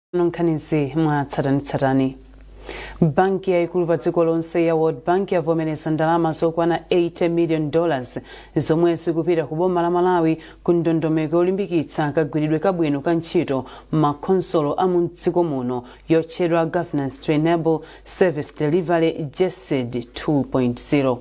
Tsopano nkhanizi mwatsatanetsatane. Banki yaikulu pa dziko lonse ya World Bank yavomereza ndalama zokwana 80 million dollars zomwe zikupita ku boma la Malawi ku ndondomeko yolimbikitsa kagwiridwe kabwino ka ntchito m'makhonsolo a m'dziko muno yotchedwa Governance to Enable Service Delivery GESD 2.0.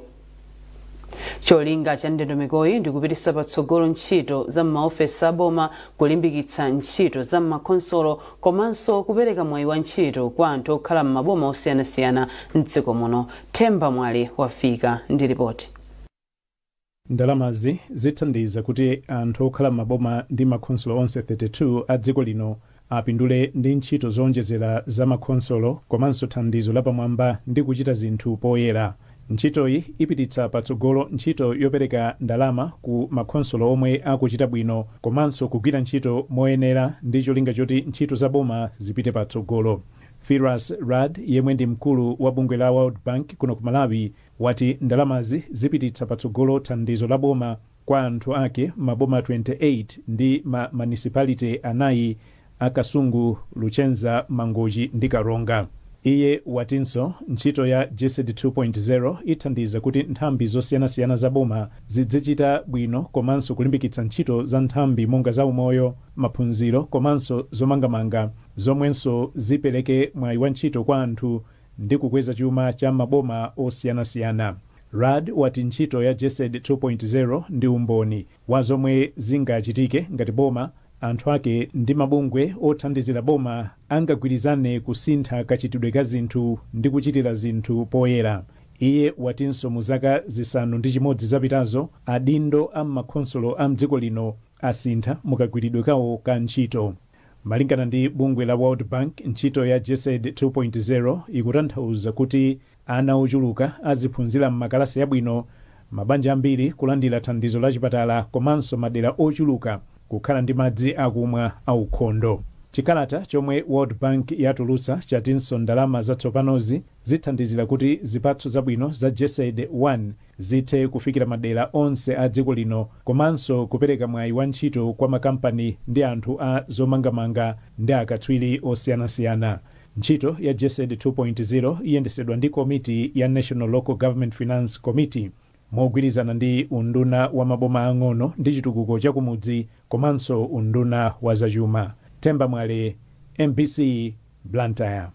cholinga cha ndondomekoyi ndi kupititsa patsogolo ntchito za m'maofesi a boma kulimbikitsa ntchito za m'makhonsolo komanso kupereka mwayi wa ntchito kwa anthu okhala m'maboma osiyanasiyana m'dziko muno themba mwale wafika ndi ripoti Ndalamazi zithandiza kuti anthu okhala m'maboma ndi makhonsolo onse 32 a dziko lino apindule ndi ntchito zoonjezera za makhonsolo komanso thandizo la pamwamba ndi kuchita zinthu poyera. Ntchitoyi ipititsa patsogolo ntchito yopereka ndalama ku makhonsolo omwe akuchita bwino komanso kugwira ntchito moyenera ndi cholinga choti ntchito za boma zipite patsogolo. Firas Raad yemwe ndi mkulu wa bungwe la World Bank kuno ku Malawi wati ndalamazi zipititsa patsogolo thandizo la boma Kwa anthu ake, maboma 28 ndi ma manisipalite anayi a Kasungu, Luchenza, Mangochi ndi Karonga. Iye watinso ntchito ya GESD 2.0 ithandiza kuti nthambi zosiyanasiyana za boma zidzichita bwino komanso kulimbikitsa ntchito za nthambi monga za umoyo, maphunziro komanso zomangamanga zomwenso zipereke mwayi wa ntchito kwa anthu ndi kukweza chuma cha maboma osiyanasiyana. Raad wati ntchito ya GESD 2.0 ndi umboni wa zomwe zingachitike ngati boma, anthu ake ndi mabungwe othandizira boma angagwirizane kusintha kachitidwe ka zinthu ndi kuchitira zinthu poyera. Iye watinso mu zaka zisanu ndi chimodzi zapitazo, adindo a m'makhonsolo a m'dziko lino asintha mu kagwiridwe kawo ka ntchito. Malingana ndi bungwe la World Bank, ntchito ya GESD 2.0 ikutanthauza kuti ana ochuluka aziphunzira m'makalasi abwino, mabanja ambiri kulandira thandizo la chipatala komanso madera ochuluka kukhala ndi madzi akumwa aukhondo. Chikalata chomwe World Bank yatulutsa chatinso ndalama zatsopanozi zithandizira kuti zipatso zabwino za GESD 1. zithe kufikira madera onse a dziko lino komanso kupereka mwayi wa ntchito kwa makampani ndi anthu a zomangamanga ndi akatswiri osiyanasiyana. Ntchito ya GESD 2.0 iyendetsedwa ndi komiti ya National Local Government Finance Committee mogwirizana ndi Unduna wa Maboma Aang'ono ndi Chitukuko cha Kumudzi komanso Unduna wa Zachuma. Themba Mwale, MBC, Blantyre.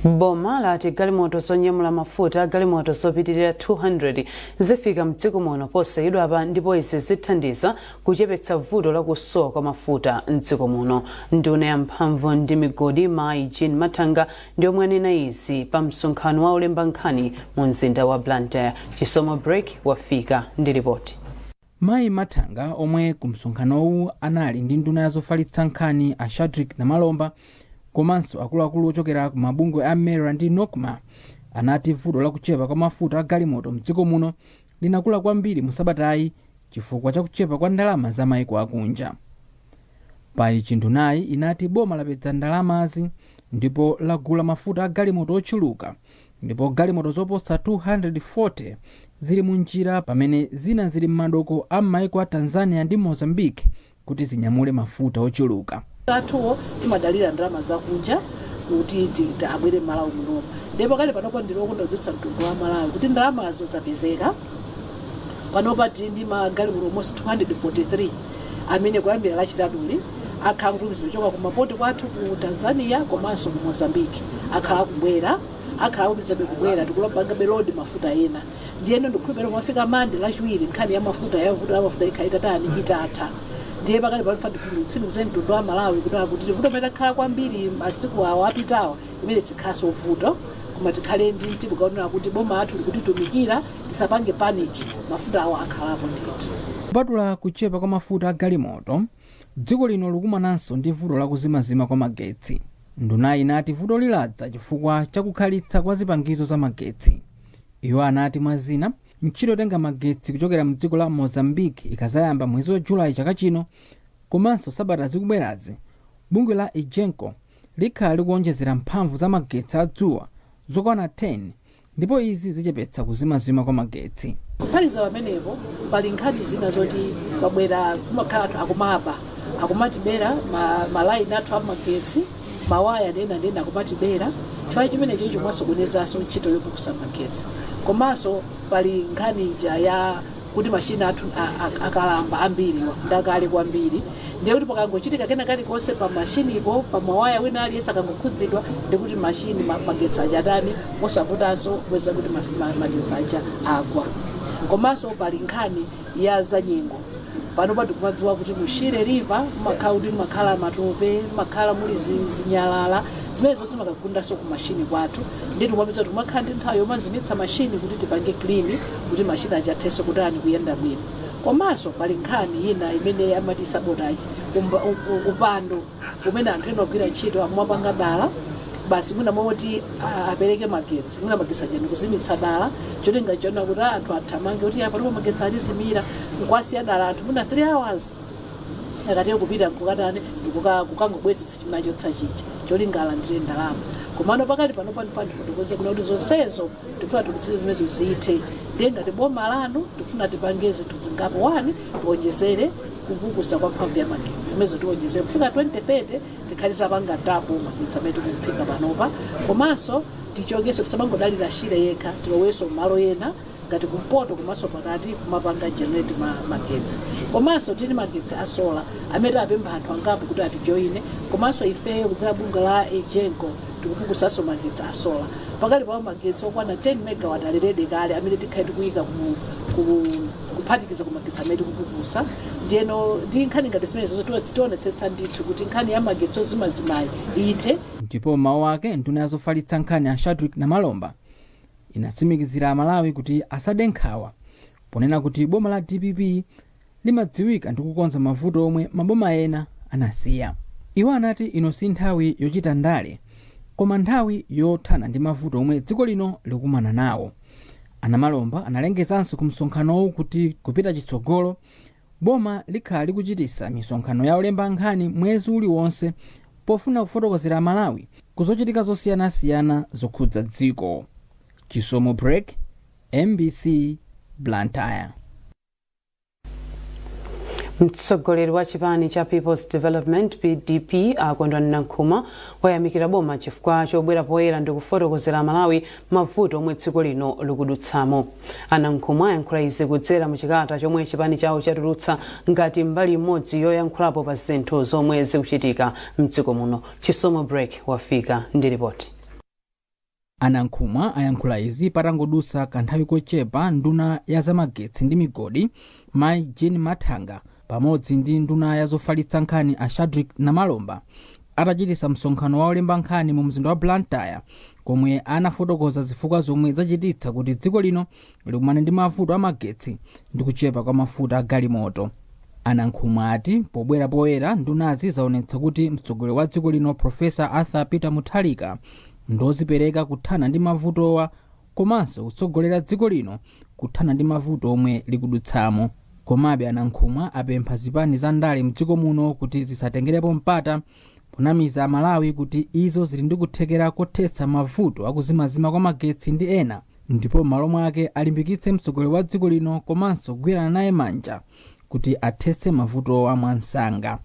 boma lati galimoto zonyamula mafuta a galimoto zopitirira 200 zifika mdziko muno posachedwapa ndipo izi zithandiza kuchepetsa vuto la kusowa kwa mafuta mdziko muno nduna ya mphamvu ndi migodi mayi jean mathanga ndi omwe anena izi pa msonkhano wa olemba nkhani mu mzinda wa blantyre chisomo break wafika ndi ripoti Mayi Mathanga omwe ku msonkhanowu anali ndi nduna ya zofalitsa nkhani a Shadrick Namalomba komanso akuluakulu ochokera ku mabungwe a MERA ndi Nocma anati vuto la kuchepa kwa mafuta a galimoto mdziko muno linakula kwambiri mu sabatayi chifukwa cha kuchepa kwa ndalama za maiko akunja. Pa ichi ndunayi inati boma lapeza ndalamazi ndipo lagula mafuta a galimoto ochuluka ndipo galimoto zoposa 240 zili munjira pamene zina zili m'madoko a m'maiko a Tanzania ndi Mozambique kuti zinyamule mafuta ochuluka. mafutawo timadalira ndalama zakunja kuti ti- ti- abwere m'Malawi munomu ndipo pakali panopo ndili okondwa kuudziwitsa mtundu wa Amalawi kuti ndalamazo zapezeka panopa tili ndi magalimoto almost 243 amene kuyambira lachitatuli akhala akuchoka ku mapoti athu ku tanzania komanso ku mozambique akhala akubwera akhala akutumizidwabe kubwera tikulapangabe lodi mafuta ena ndiyeno ndikukhulupirira kumafika mande lachiwiri nkhani ya mafuta ya vuto la mafuta ikhala itatani itatha ndiye pakati pano nditsimikizire mtundu wa amalawi kuti kuti vuto limene lakhala kwambiri masiku awa apitawa limeneli silikhalanso vuto koma tikhale ndi mtima kaonera kuti boma lathu likutitumikira tisapange panic mafutawo akhalapo ndithu kupatula kuchepa kwa mafuta a galimoto dziko lino likukumananso ndi vuto la kuzimazima kwa magetsi ndunayi inati vutoli ladza chifukwa cha kukhalitsa kwa zipangizo za magetsi iwo anati mwa zina ntchito yotenga magetsi kuchokera mdziko la mozambique ikazayamba mwezi wa julayi chaka chino komanso sabata zikubwerazi bungwe la egenco likhala likuwonjezera mphamvu za magetsi a dzuwa zokwana 10 ndipo izi zichepetsa kuzimazima kwa magetsi. Kuphatikiza pamenepo, pali nkhani zina zoti kwabwera kumakhala anthu akumaba akumatibera ma, ma layini athu amagetsi mawaya ndi zina ndi zina akumatibera chifukwa cha chimenecho chimasokonezanso ntchito yopukusa magetsi komanso pali nkhani ija ya kuti mashini athu a- a- akalamba ambiriwa ndakale kwambiri ndiye kuti pakangochitika kena kalikonse pa mashinipo pa mawaya wina aliyense akangokhudzidwa ndikuti mashini ma- magetsi aja atani amavutanso kupeza kuti maf- ma- magetsi aja agwa komanso pali nkhani ya zanyengo panopa tikumadziwa kuti mu shire river mumakhala kuti mumakhala matope mumakhala muli zi- zinyalala zimene zonse zimakagundanso ku mashini kwathu nde tikumapeza kuti kumakhala ndi nthawi yomazimitsa mashini kuti tipange clean kuti machine aja athenso kutani kuyenda bwino komanso pali nkhani yina imene amati sabotage umba, u, u, upandu umene anthu ena ogwira ntchito amapanga dala basi mwina moti a- apereke magetsi mwina magetsi aja ndikuzimitsa dala cholinga chona kuti anthu athamange kuti apa ndipo magetsi atizimira nkwasiya dala anthu mwina 3 hours akati kupita nkukatani ndikuka- kukangobwezetsa chimene achotsa chija cholinga alandire ndalama komano pakati pano pano nafuna ndifotokoze kunena kuti zonsezo tifuna tionetsetse zimenezo zithe ndiye ngati boma lanu tifuna tipange zinthu zingapo wani tiwonjezere kupukusa kwa mphamvu ya magetsi zimenezo tiwonjezere kufika 2030 tikhale tapanga double magetsi amene tikuphika panopa komanso tichokeso tisamangodalira shire yekha tiloweso malo ena ngati kumpoto komanso pakati kumapanga generate ma, magetsi komanso tili magetsi a sola amene tapempha anthu angapo kuti atijoine komanso ifeyo kudzera bungwe la egenco tikupukusaso magetsi a sola pakali pano magetsi okwana 10 megawatt ali redi kale amene tikhale tikuyika ku, ku, kuphatikiza ku magetsi amene tikupukusa ndiyeno ndi nkhani ngati zimenezo zoti tionetsetsa ndithu kuti nkhani ya magetsi ozimazimayi ithe ndipo mmawu ake nduna ya zofalitsa nkhani a shadrick namalomba inatsimikizira amalawi kuti asade nkhawa ponena kuti boma la dpp limadziwika ndi kukonza mavuto omwe maboma ena anasiya. Iwo anati ino si nthawi yochita ndale koma nthawi yothana ndi mavuto omwe dziko lino likukumana nawo. A Namalomba analengezanso ku msonkhanowu kuti kupita chitsogolo, boma likhala likuchitisa misonkhano ya olemba nkhani mwezi uliwonse pofuna kufotokozera Amalawi ku zochitika zosiyanasiyana zokhudza dziko. Chisomo Break, mbc, Blantyre. mtsogoleri wa chipani cha peoples development pdp a kondwani nankhumwa wayamikira boma chifukwa chobwera poyera ndi kufotokozera amalawi mavuto omwe dziko lino likudutsamo anankhumwa ayankhula izi kudzera mu chikalata chomwe chipani chawo chatulutsa ngati mbali imodzi yoyankhulapo pa zinthu zomwe zikuchitika mdziko muno chisomo break wafika ndi ripoti A Nankhumwa ayankhula izi patangodutsa kanthawi kochepa nduna ya zamagetsi ndi migodi mayi Jean Mathanga pamodzi ndi nduna ya zofalitsa nkhani a Shadrick Namalomba atachititsa msonkhano wa olemba nkhani mu mzinda wa Blantyre komwe anafotokoza zifukwa zomwe zachititsa kuti dziko lino likumane ndi mavuto amagetsi ndi kuchepa kwa mafuta a galimoto anankhumwa ati pobwera poyera ndunazi zaonetsa kuti mtsogoleri wa dziko lino profesa arthur peter mutharika ndozipereka kuthana ndi mavutowa komanso kutsogolera dziko lino kuthana ndi mavuto omwe likudutsamo komabe anankhumwa apempha zipani za ndale mdziko muno kuti zisatengerepo mpata ponamiza amalawi kuti izo zili ndi kuthekera kothetsa mavuto akuzimazima kwa magetsi ndi ena ndipo m'malo mwake alimbikitse mtsogoleri wa dziko lino komanso kugwirana naye manja kuti athetse mavutowa mwansanga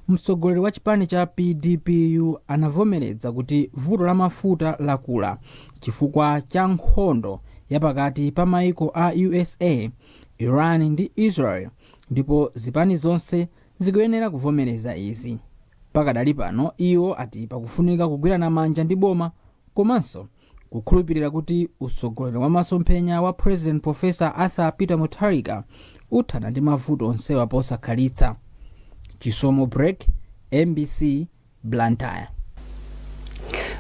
mtsogoleri wa chipani cha pdpu anavomereza kuti vuto la mafuta lakula chifukwa cha nkhondo yapakati pa maiko a usa iran ndi israel ndipo zipani zonse zikuyenera kuvomereza izi. Pakadali pano iwo ati pakufunika kugwirana manja ndi boma komanso kukhulupirira kuti utsogoleri wa masomphenya wa President Professor Arthur Peter Mutharika uthana ndi mavuto onsewa posakhalitsa. Chisomo Break, mbc, blantyre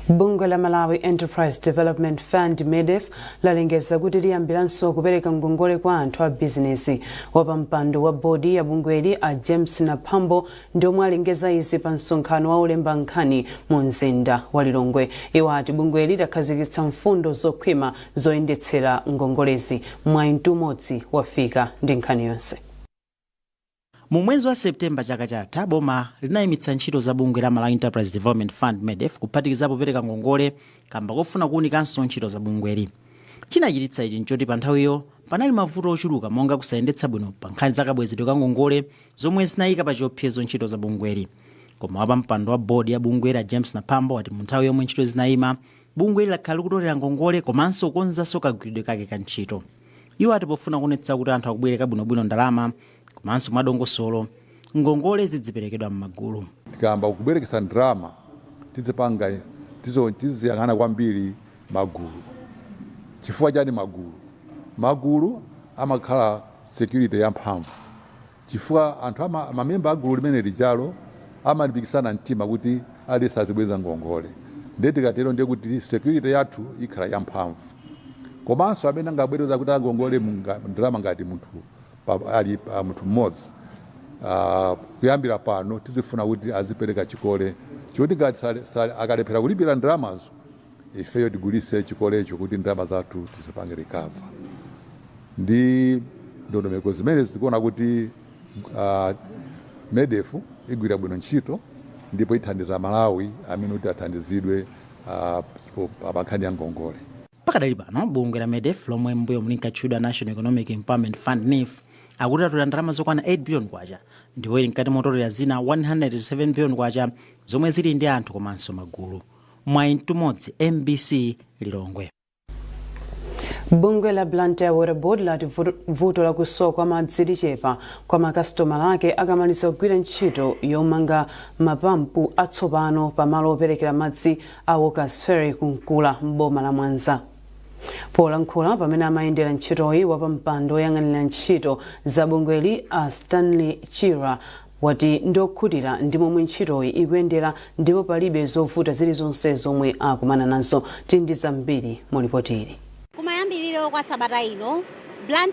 bungwe la malawi enterprise development fund medef lalengeza kuti liyambiranso kupereka ngongole kwa anthu a bizinesi wapampando wa bodi ya bungweli a james naphambo ndi omwe alengeza izi pa msonkhano wa olemba nkhani mu mzinda wa lilongwe iwo ati bungweli lakhazikitsa mfundo zokhwima zoyendetsera ngongolezi mwayi mtumodzi wafika ndi nkhani yonse Mu mwezi wa September chaka chatha, boma linaimitsa ntchito za bungwe la Malawi Enterprise Development Fund, Medef, kuphatikizapo kupereka ngongole kamba kofuna kuunikanso ntchito za bungweli. Chinachititsa ichi nchoti panthawiyo panali mavuto ochuluka monga kusayendetsa bwino pa nkhani za kabwezedwe ka ngongole zomwe zinaika pa chiopsezo ntchito za bungweli. Koma wapampando wa board ya bungweli a James Naphambo wati munthawi yomwe ntchito zinaima, bungweli lakhala likutolera ngongole komanso kukonzanso kagwiridwe kake ka ntchito. Iwo ati pofuna kuonetsa kuti anthu akubwereka bwinobwino ndalama komanso mwadongosolo, ngongole zidziperekedwa m'magulu. Tikayamba kubwerekesa ndalama tizipanga, tiziyang'ana kwambiri magulu. Chifukwa chani magulu? Magulu amakhala security yamphamvu. chifukwa anthu mamemba a gulu limene lijalo amalimbikitsana mtima kuti aliyense azibweza ngongole ndiye tikatero ndiye kuti security yathu ikhala yamphamvu komanso amene angabwereza kuti angongole ndalama ngati munthu ali munthu mmodzi Ah, kuyambira pano tizifuna kuti azipereka chikole choti ngati akalephera kulipira ndalamazo ifeyo tigulise chikolecho kuti ndalama zathu tizipange recover ndi ndondomeko zimenezi tikuona kuti uh, medef igwira bwino ntchito ndipo ithandiza amalawi amene kuti athandizidwe uh, po- pa pa nkhani ya ngongole pakadali pano bungwe la medef lomwe m'mbuyomu linkatchedwa national economic empowerment fund nef akuti atolera ndalama zokwana 8 billion kwacha ndipo ili mkati motolera zina 107 billion kwacha zomwe zili ndi anthu komanso magulu Mwayi Mtumodzi, MBC Lilongwe. Bungwe la Blantyre Water Board lati vuto la kusowa kwa madzi lichepa kwa makasitoma ake akamaliza kugwira ntchito yomanga mapampu atsopano pa malo operekera madzi a Walkers Ferry ku Nkula m'boma la Mwanza. Polankhula pamene amayendera ntchitoyi, wapampando woyang'anira ntchito za bungweli a Stanley Chirwa wati ndiokhutira ndi momwe ntchitoyi ikuyendera ndipo palibe zovuta zilizonse zomwe akumana nazo. Tili ndi zambiri mu lipoti ili. Kumayambiliro kwa sabata ino, Blantyre.